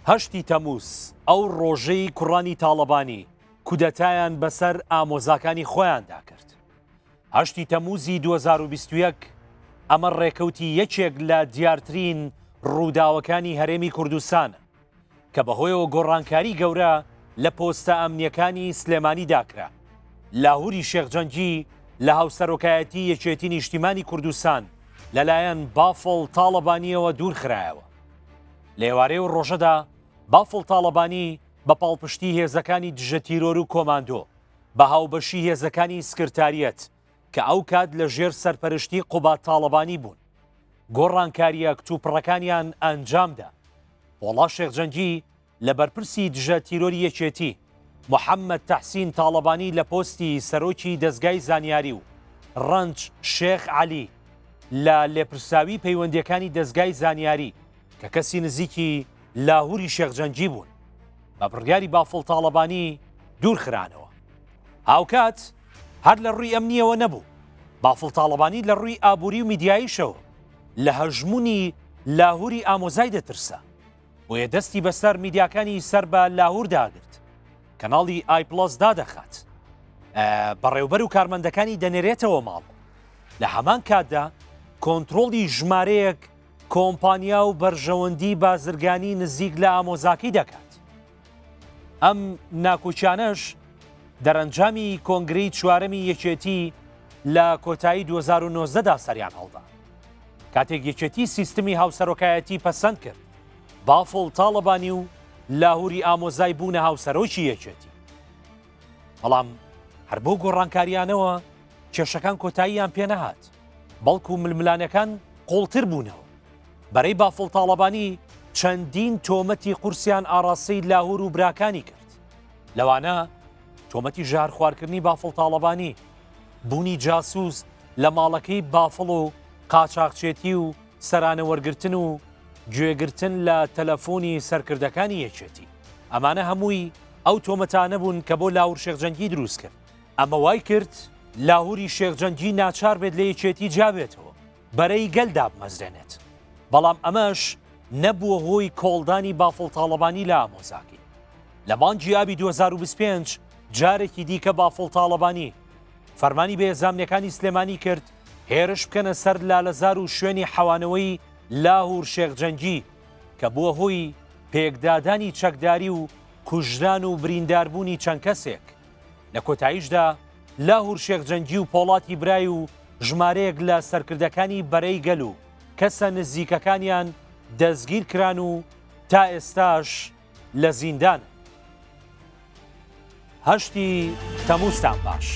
هەشتی تەموز، ئەو ڕۆژەی کوڕانی تاڵەبانی کودەتایان بەسەر ئامۆزاکانی خۆیاندا کرد. هەشتی تەموزی دوو هەزار و بیست و یەک، ئەمە ڕێکەوتی یەکێک لە دیارترین ڕووداوەکانی هەرێمی کوردستانە، کە بەهۆیەوە گۆڕانکاری گەورە لە پۆستە ئەمنییەکانی سلێمانیدا کرا. لاهوری شێخ جەنگی لە هاوسەرۆکایەتی یەکێتی نیشتیمانی کوردستان لەلایەن بافڵ تاڵەبانییەوە دوورخرایەوە. لە ئێوارێ و ڕۆژەدا بافڵ تاڵەبانی بە پاڵپشتی هێزەکانی دژە تیرۆر و کۆماندۆ بە هاوبەشی هێزەکانی سکرتاریەت کە ئەو کات لە ژێر سەرپەرشتی قوبات تاڵەبانی بوون گۆڕانکاریە کتوپڕەکانیان ئەنجامدا پۆڵا شێخجەنگی لە بەرپرسی دژە تیرۆری یەکێتی محەممەد تەحسین تاڵەبانی لە پۆستی سەرۆکی دەزگای زانیاری و ڕەنج شێخ عەلی لە لێپرسراوی پەیوەندیەکانی دەزگای زانیاری کە کەسی نزیکی لاهوری شێخ جەنگی بوون بە بڕیاری بافڵ تاڵەبانی دوورخرانەوە هاوکات هەر لە ڕووی ئەمنیەوە نەبوو بافڵ تاڵەبانی لە ڕووی ئابووری و میدیاییشەوە لە هەژمونی لاهوری ئامۆزای دەترسە بۆیە دەستی بەسەر میدیاکانی سەر بە لاهور داگرت کەناڵی ئایپلس دادەخات بەڕێوبەر و کارمەندەکانی دەنێرێتەوە ماڵ لە هەمان کاتدا کۆنتترۆڵی ژمارەیەک کۆمپانیا و بەرژەوەندی بازرگانی نزیک لە ئامۆزاکی دەکات ئەم ناکۆکیانەش دەرەنجامی کۆنگرەی چوارەمی یەکێتی لە کۆتایی 2009 دا سەریان هەڵدا کاتێک یەکێتی سیستمی هاوسەرۆکایەتی پەسەند کرد بافڵ تاڵەبانی و لاهوری ئامۆزای بوونە هاوسەرۆکی یەکێتی بەڵام هەر بۆ گۆڕانکاریانەوە کێشەکان کۆتاییان پێنەهات بەڵکو ململانەکان قوڵتر بوونەوە بەرەی بافڵ تاڵەبانی چەندین تۆمەتی قورسیان ئاڕاستەی لاهور و براکانی کرد لەوانە تۆمەتی ژارخوارکردنی بافڵ تاڵەبانی بوونی جاسوس لە ماڵەکەی بافڵ و قاچاقچێتی و سەرانە وەرگتن و گوێگرتن لە تەلەفۆنی سەرکردەکانی یەکێتی ئەمانە هەمووی ئەو تۆمەتانە بوون کە بۆ لاور شێخجەنگی دروست کرد ئەمە وای کرد لاهوری شێخجەنگی ناچار بێت لە یەکێتی جابێتەوە بەرەی گەل دابمەزرێنێت، بەڵام ئەمەش نەبووە هۆی کۆڵدانی بافڵ تاڵەبانی لە ئامۆزاکەی. لە مانگی ئابی 2025 جارێکی دیکە بافڵ تاڵەبانی فەرمانی بە هێزامنیەکانی سلێمانی کرد هێرش بکەنە سەر لالەزار و شوێنی حەوانەوەی لاهور شێخ جەنگی کە بووە هۆی پێکدادانی چەکداری و کوژران و برینداربوونی چەند کەسێک لە کۆتاییشدا لاهور شێخ جەنگی و پۆڵاتی برای و ژمارەیەک لە سەرکردەکانی بەرەی گەل و کەسە نزیکەکانیان دەستگیر کران و تا ئێستاش لە زیندان هەشتی تەموستان باش.